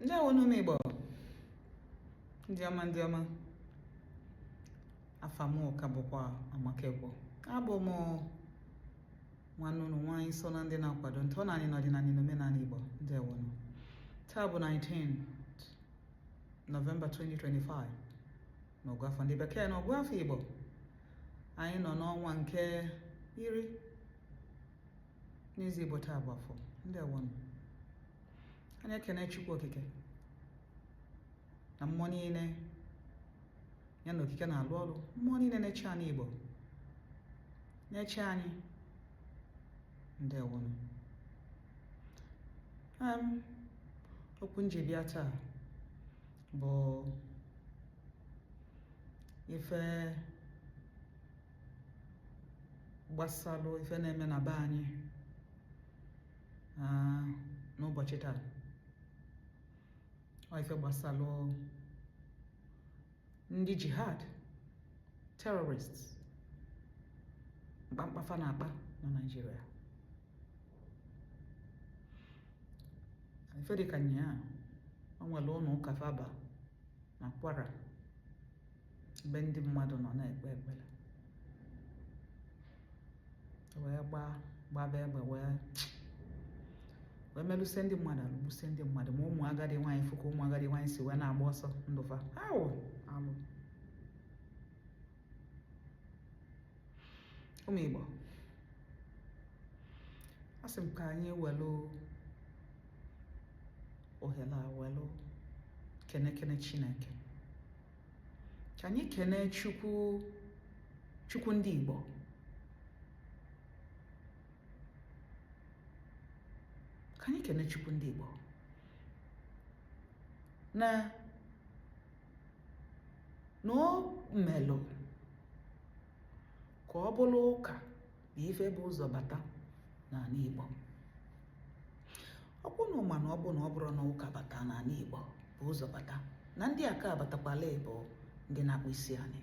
ndewo nụ ụmụ igbo ndị ọma ndị ọma afa mụ ka bụkwa amaka ekwo abụ m nwanne ụnụ nwaanyị so na ndị na-akwado ntọnanị na ọdịnanị na omenanị igbo ndewo nụ taa bụ 19 nọvemba 2025 n'ọgụ afọ ndị bekee na ọgụ afọ igbo anyị nọ n'ọnwa nke iri n'izu Igbo taa bụ afọ ndewo nụ anyị ekene Chukwu Okike na mmụọ niile ya na okike na-alụ ọlụ mmụọ niile na-eche anị Igbo na-eche anyị ndewo nụ okwu m ji bịa taa bụ ife gbasalụ ife na-eme na be anyị n'ụbọchị taa ọ ife gbasalụ ndị jihad terrorists mkpamkpa fa na-akpa na Naịjirịa ife dịka nyaa o nwelụ ụnọ ụka fa ba na kwara ebe ndị mmadụ nọ na-ekpe ekpere e wee gbaa gbaba egbe wee wee melụsie ndị mmadụ alụ gbusie ndị mmadụ ma ụmụ agadi nwaanyị fụ ka ụmụ agadi nwaanyị si wee na-agba ọsọ ndụ fa awụ alụ ụmụ Igbo asị m ka anyị welụ ohere a welụ kene kene Chineke ka anyị kenee chukwu ndị igbo ka anyị kene chukwu ndị igbo na na o melụ ka ọ bụlụ ụka bụ ife bu ụzọ bata n'anị Igbo ọkwa unu ma na ọ bụ na ọ bụrụ na ụka bata n'anị Igbo bu ụzọ bata na ndị a ka-abatakwa ala Igbo ndị na-akpụ isi anyị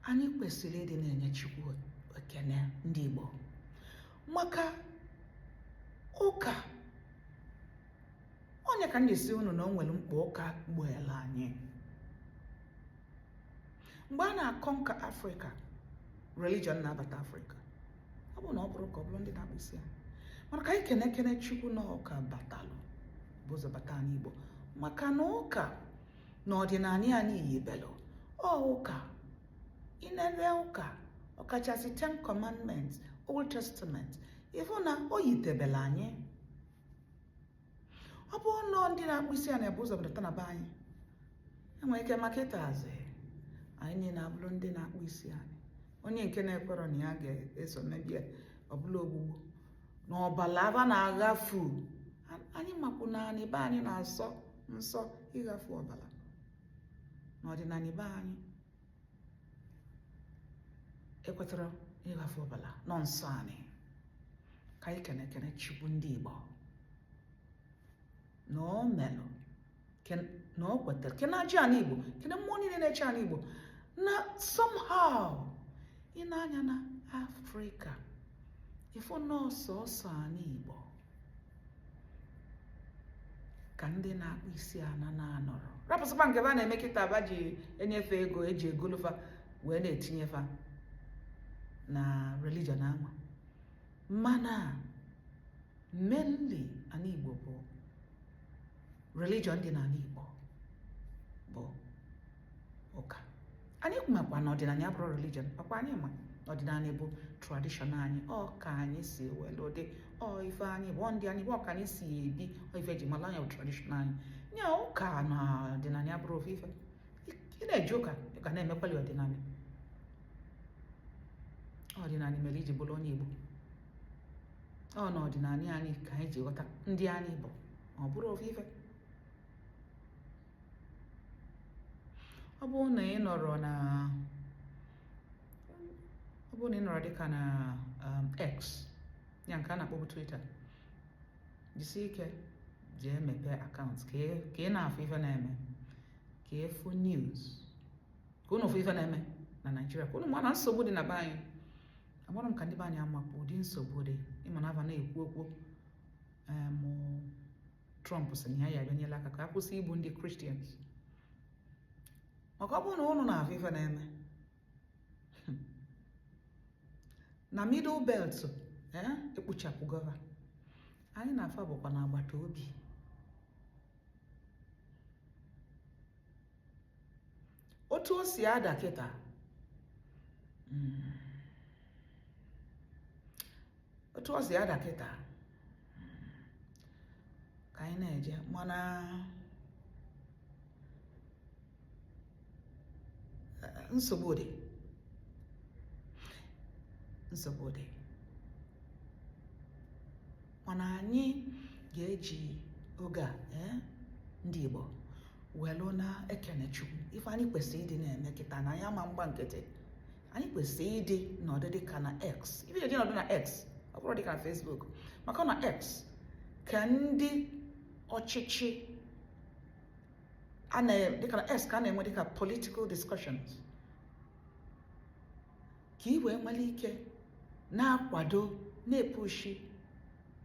anyị kwesịrị ịdị na-enye Chukwu ekene ndị Igbo maka ụka onye ka na-asị unu na o nwerọ mkpa ụka gboolụ anyị mgbe a na-aconquer afrịka religion na-abata afrịka ọ bụrụ na ọ bụrọ ụka ọ bụrụ ndị na-akpọ isi anị mana ka anyị kene kene chukwu na ọ ụka batalụ bu ụzọ bata anị igbo maka na ụka na ọdịnanị anyị yibelụ ọ ụka inere ụka ọkachasị ten commandments old testament ị fụ na o yitebela anyị ọ bụlụ ndị na-akpọ isi anị bu ụzọ bata na be anyị e nwere ike ma kịtazị anyị niile abụrụ ndị na-akpọ isi anị onye nke na-ekwerọ na ya ga-eso maybe ọ bụlụ ogbugbu na ọbala aba na-aghafu anyị makwụ na anị be anyị na-asọ nsọ ịghafu ọbala n'ọdịnanị be anyị ekwetarọ ịghafu ọbala na ọ nsọ anị ka anyị kene kene chukwu ndị igbo na o melụ na o kwetara kene aja anị igbo kene mmụọ niile na-eche anị igbo na somehow i nee anya na afrịka ị fụ na ọ sọọsọ anị igbo ka ndị na-akpọ isi ana na-anọrọ rapụzịkwa nke fa na-eme kịta aba ji enye fa ego e ji egolu fa wee na-etinye fa na religion anwa mana mainly ana Igbo bụ religion dị n'ana Igbo bụ ụka anyị makwa na ọdịnanị abụrọ religion ọ kwa anyị ma ọdịnanị bụ tradition anyị ọ ka anyị si welu dị ọ ife anyị bụ ndị anyị bụ ọ ka anyị si ebi ọ ife e ji malụ anyị bụ tradition anyị nya ụka na ọdịnanị abụrọ ofu ife ị na-eje ụka ka na-emekwalị ọdịnanị ọdịnanị mere i ji bụrụ onye Igbo ọ na ọdịnanị anyị ka anyị ji ghọta ndị anyị bụ ọ bụrọ ofu ife ọ bụrụ na ị nọrọ na ọ bụrụ na ị nọrọ dịka na um, X ya nke a na-akpọbu Twitter jisi ike jee mepee account ka ị na-afụ ife na-eme ka ị fụ news ka unu fụ ife na-eme na Naịjirịa ka unu ma na nsogbu dị na be anyị amarọ m ka ndị be anyị amakwa ụdị nsogbu dị ị ma na aba na-ekwu okwu um, Trump sị na ya ya abịanyela aka ka a kwụsị igbu ndị Christians maka ọ bụrụ na ụnụ na-afụ ife na-eme na middle belt eh, e gbuchapụgo fa anyị na fa bụkwa na agbata obi otu o si ada kịta hmm, otu o si ada kịta hmm, ka anyị na-eje mana eh, nsogbu dị nsogbu dị mana anyị ga-eji oge a eh, ndị Igbo welu na-ekene Chukwu ife anyị kwesịrị ịdị na-eme kịta na anyị ama mgba nkịtị anyị kwesịrị ịdị na-anọdụ dịka na X ife e ji nọdụ na X ọ bụrọ dịka na Facebook maka na X ka ndị ọchịchị a dịka na X ka a na-enwe dịka political discussions ka ị wee nwere ike na-akwado na-epushi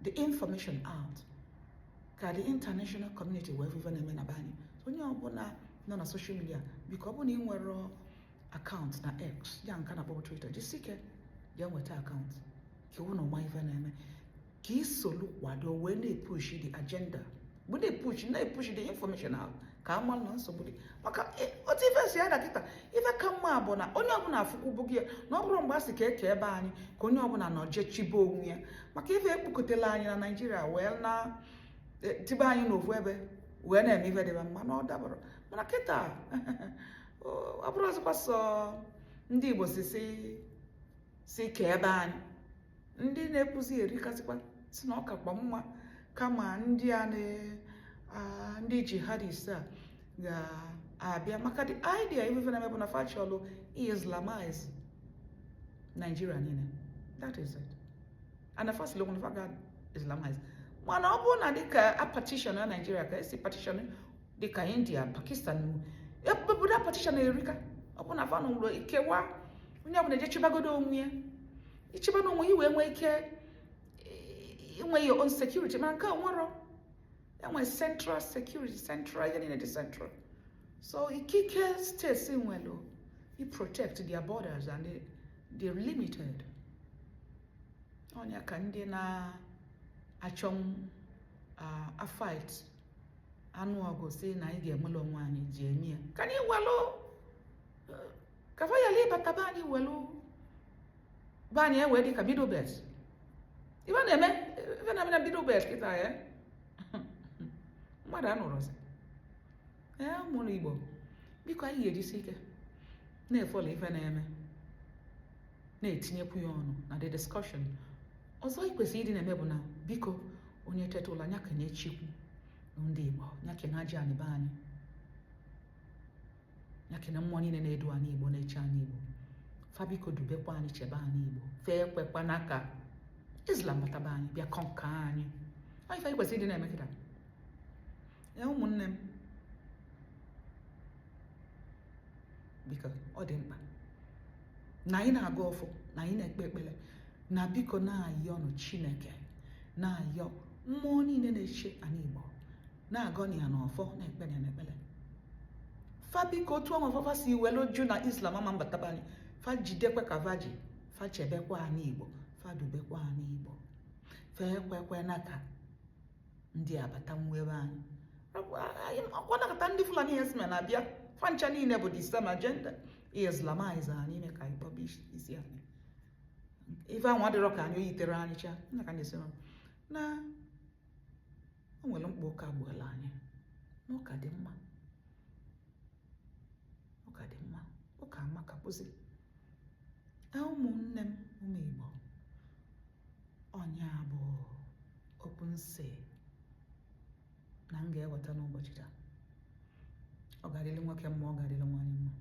the information out ka the international community wee fụ ife na-eme na be anyị onye ọbụla nọ na social media biko ọ bụrụ na ị nwerọ akaụntụ na x ya nke a na-akpọbu Twitter jisike je nweta akaụntụ ka i welu na-ama ife na-eme ka i solu kwado wee na-epushi the agenda bụ na-epushi na-epushi the information out ka a mara na nsogbu dị maka e, otu ife si ada kịta ife ka mma bụ na onye ọbụla afụkwubago na ọ bụrụ mgbe a sị ka e kee be anyị ka onye ọbụla naa je chịbe onwe ya maka ife ekpokọtela anyị na Naịjirịa wee na e, tibe anyị n'ofu ebe wee na-eme ife dịba mma na ọ dabarọ mana kịta ọ bụrọzịkwa sọ ndị Igbo sị sị sị ka ebe anyị ndị na-ekwuzi erikasịkwa sị na ọ kakwa mma kama ndị a ndị jihadist a ga-abịa maka the idea ife fa na-eme bụ na fa chọlụ ị islamize Nigeria niile that is it and fa sịlụ na fa ga islamize mana ọ bụrụ na dịka a partition na Nigeria ka e si partition dịka India Pakistan obodo a partition erika ọ bụ na fa nwere ikewa onye ọbụla eje chịbagodo onwe ya ị chịba onwe gị wee nwee ike inwe your own security mana nke a nwere enwe central security central ihe niile dị central so ikike steeti nwere i protect their borders and they, they're limited ọ nya ka ndị na-achọ uh, a fight anụ ọgụ sị na anyị ga-enwere onwe anyị ji eme ya ka anyị welụ ka fa yala ịbata be anyị welụ be anyị ewee dị ka middle belt ife na-eme ife na-eme na middle belt kịta ya mmadụ anụrọzi ee ụmụ Igbo biko anyị ga-ejisi ike na-efollow ife na-eme na-etinyekwu ya ọnụ na the discussion ọzọ ị kwesịrị ịdị na-eme bụ na biko onye teta ụla nya kene Chukwu ndị Igbo nya kene aja anị be anyị nya kene mmụọ niile na-edu anị Igbo na-eche anị Igbo fa biko dubekwa anyị chebe anị Igbo fa ekwekwana ka Islam bata be anyị bịa conquer anyị ọ ife anyị kwesịrị ịdị na-eme kịta ya ụmụnne m biko ọ dị mkpa na anyị na-agọ ọfọ na anyị na-ekpe ekpere na biko na-ayọnụ chineke na-ayọ mmụọ niile na-eche anị igbo na-agọnụ ya na ọfọ na-ekpenụ ya na ekpere fa biko otu ọnwa fa fa si welu jụ na islam ama mbata be anyị fa jidekwa ka va ji fa chebekwa anị igbo fa dubekwa anị igbo fa ekwekwana ka ndị a bata nwee be anyị ọkwa nakọta ndị fulani herdsmen na-abịa fa ncha niile bụ the same agenda islamize anyị ime ka anyị kpọba isi anị ife ahụ adịrọ ka anyị o yiterọ anyị cha nna ka na-esi na o nwere mkpa ụka gboolu anyị na ụka dị mma ụka dị mma ụka amaka kpụzi ụmụnne m ụmụ Igbo ọ nya bụ okwu m sị na m ga-eweta n'ụbọchị taa ọ ga-adịrị nwoke mma ọ ga-adịrị nwaanyị mma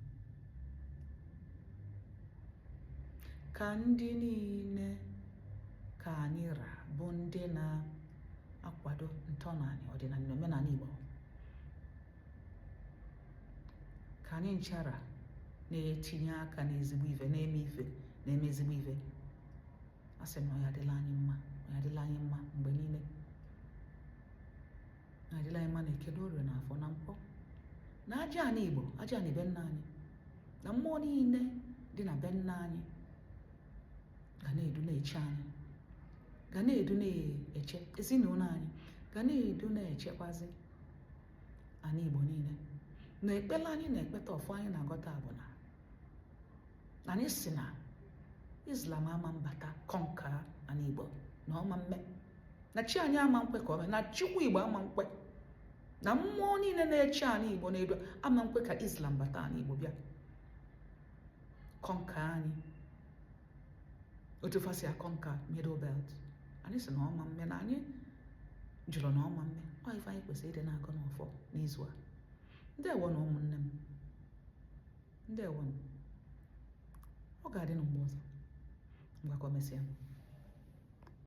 ka ndị niile ka anyị ra bụ ndị na-akwado ntọnanị ọdịnanị na omenanị Igbo ka anyị nchara na-etinye aka n'ezigbo ife na-eme ife na-eme ezigbo ife a sị na ọ ya-adịlị anyị mma ọ ya-adịlị anyị mma mgbe niile ya-adịlị anyị mma na eke na orie na afọ na nkwọ na aja anị igbo aja anị be nna anyị na mmụọ niile dị na be nna anyị ga na-edu na-eche anyị ga na-edu na-eche ezinụlọ anyị ga na-edu na-echekwazi anị igbo niile na ekpere anyị na-ekpeta ọfọ anyị na-agọta bụ na na anyị sị na islam ama mbata conquer anị igbo na ọ ma mme na chi anyị ama nkwe ka o mee na chukwu igbo ama nkwe na mmụọ niile na-eche anị igbo na-edu ama nkwe ka islam bata anị igbo bịa conquer anyị otu fa si conquer middle belt anyị sị na ọ ma mme na anyị jụrụ na ọ ma mme ọ ife anyị kwesịrị ịdị na-agọ n'ọfọ n'izu a ndewonụ ụmụnne m ndewonụ ọ ga-adị na mgbe ọzọ ngwa ka o mesịa